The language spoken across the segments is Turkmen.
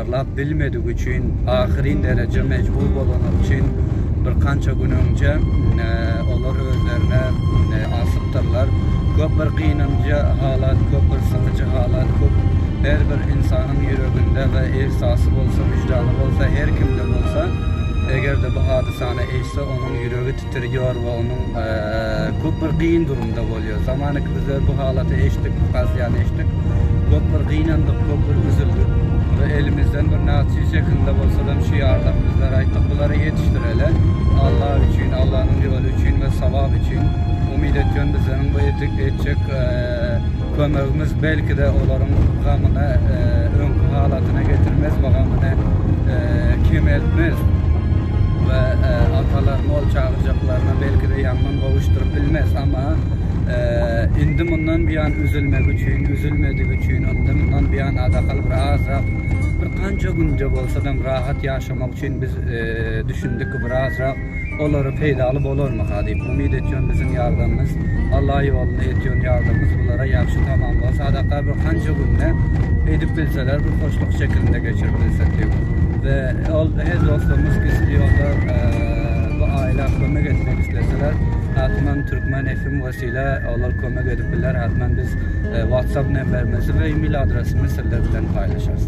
taýýarlap bilmedigi üçin ahyryn derejä mejbur bolany üçin birkança gün öňje olar özlerine asypdyrlar. Köp bir gynanjy halat, köp bir sykyjy halat, köp her bir ynsanyň ýüreginde we ihsasy bolsa, wyždany bolsa, her kimde bolsa, eger-de bu hadysany eşse, onuň ýüregi Ýör we onuň köp bir gyn durumda bolýar. Zamanak bizler bu halaty eşitdik, bu kazyýany eşitdik. Köp bir gynandyk, köp bir üzüldik we elimizden bir naçe çekildi bolsadam şu ýardan bizler aýtdyk, bulary ýetişdireli. Alla üçin, Allanyň ýoly üçin we sawap üçin. Umyt etýän bizleriň bu etjek Kömegimiz belki-de olaryň gamyny öňki halatyna getirmez we gamyny kemeltmez we atalaryň ol çagyrjaklaryna belki-de ýangyn gowuşdyryp bilmez. Emma indi mundan buýan üzülmegi üçin, üzülmedigi üçin, indi mundan buýan adakal bir azrak, bir ganja günde bolsadam rahat ýaşamak üçin biz düşündik ki, bir azrak. Olary peýdaly bolarmyka diýip umyt etýän biziň ýardamymyz Alla ýolunda etýän ýardamymyz bulara ýagşy tamamlyga sadaka bir kanca günde edip bilseler bir poçtak şekilinde geçirip bilsek diýip we ol her dostlarymyz gizli ýolda bu aýla kömek etmek isleseler hatman Türkmen FM wesile olar kömek edip biler hatman biz WhatsApp nemberimizi we email adresimizi sizler bilen paýlaşarys.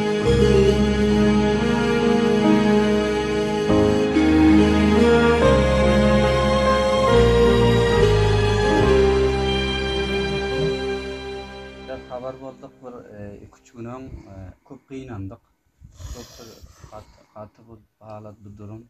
Biraz habar bolduk bir iki üç gün öň köp gynandyk. Köp bir gaty bu halat bu durum.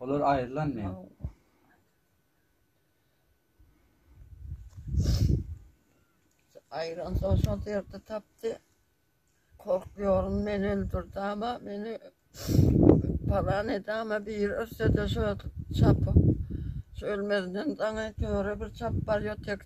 Olar aýrylan men. Aýran soň şol ýerde tapdy. Korkýaryn men öldürdi ama meni palan edi ama bir örse de şöyle çapyp şu ölmezden daňy töre bir çap barýar tek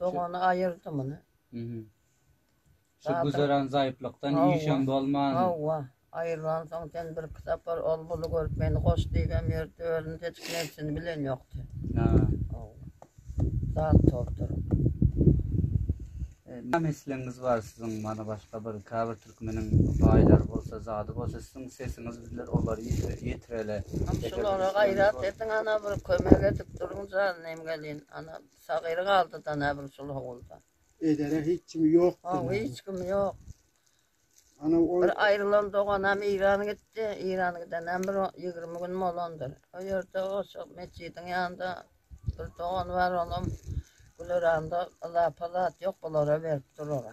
Dogany aýyrdy muny. Mhm. Şu Batyr- güzeran zaýyplykdan Hawa. işem bolman. Hawa, aýrylansoň sen birki sapar ol buly görüp meni goş diýibem ýördi, özüni seçip nebsini bilen ýokdy. Ha. Hawa. Zat topdur. E, Näme islegiňiz bar siziň mana başga bir käbir türkmeniň baýlary bolsa, zady bolsa siziň sesiňiz bizler olary ýetir- ýetireli. Hem Eger şulara islegiňiz gaýrat bol- ediň ana bir kömek edip duruň janynem gelin. Ana Sagyry galdy-da Näbilsul howulda. Edere hiç kimi ýokdy. Haw, hiç kimi ýok. Ana ol. Bir aýrylan doganam Iran gitdi. Iran gidenem bir ýigrimi gün bolandyr. O ýerde oşa metjidiň ýanynda bir dogan bar, onam Güleranda yzapa zat ýok, bulara berip durara.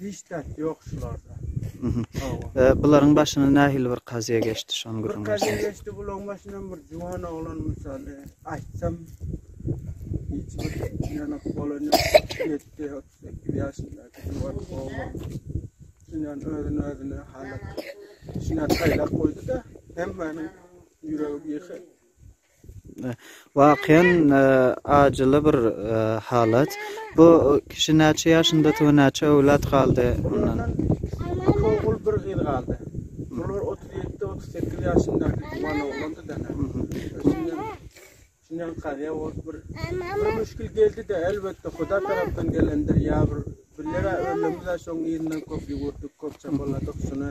Hiç zat ýok şularda. Hawa. Bularyň başyna nähili bir kazyýa geçdi şony gürrüň Bir kazyýa berseňiz. geçdi bulaň başyndan bir juwan oglan mysaly aýtsam hiç bir ýanak bolan ýok. Ýetdi otuz sekiz ýaşyndaky juwan oglan. Şundan özüni özüne halyk şuna saýlap goýdy-da hemmäniň ýüregi ýyky. Wakyýan ajyly bir halat. Bu kişi näçe ýaşynda tu näçe öwlat galdy ondan? Iki ogul bir gyz galdy. Bular 37 38 ýaşyndaky tuwan oglandy da. Şundan kazyýa bolup bir bir müşkil geldi de elbetde huda tarapdan gelendir ýa bir billere ömrümizde şoň ýerinden köp ýüwürdik köp çapaladyk şuna.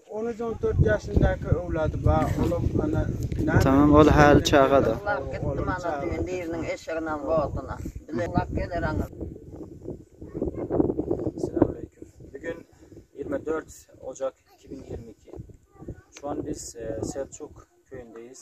On üç on dört ýaşyndaky öwlady bar olam ana näme Tamam ol häli çagada. Ulag gitdi mana düýn biriniň eşegini al borduna. Bile ulag geler aňyr. Selamüleýkum. Bu gün ýigrimi dört ojak iki müň ýigrimi iki. Şu an biz Selçuk köýündeýiz.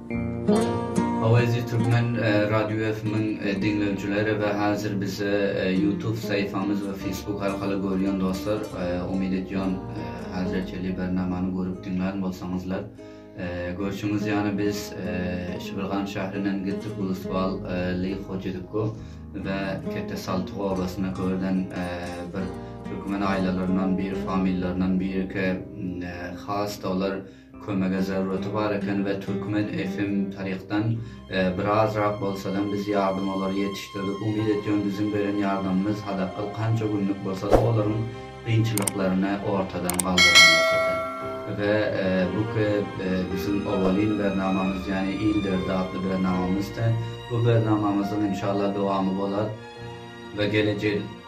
Awazi Türkmen Radio FM-iň diňleýjileri we hazir bizi YouTube saýfamyz we Facebook arkaly görýän dostlar, umyt edýän hazirçeli bernamany görüp diňlän bolsaňyzlar. Görşüňiz ýaly biz Şibilgan şäherinden gitdik Ulustwal Li Hojidikko we Kete Saltyk obasyna görden bir türkmen aýlalaryndan biri familýalaryndan biriki has-da olar Kömege zerureti bar eken we Türkmen FM tarykdan birazrak bolsadam biz ýardym olary ýetişdirdik. Umyt etýän biziň beren ýardamymyz hazakgal kança günlük bolsada olaryň kynçylyklaryny ortadan galdyran bolsady. We bu ki biziň owalyn bernamamyz ýani il derdi atly bernamamyzdy. Bu bernamamyzyň inşallah dowamy bolar we gelejil.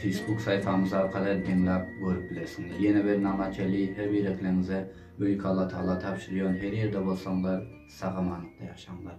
Facebook saýfamyz arkaly hem diňläp görüp bilersiňiz. Ýene bir Namacheli her birekleňize Beýik Allatagala tabşyrýan her ýerde bolsaňlar sag-amanlykda ýaşaňlar.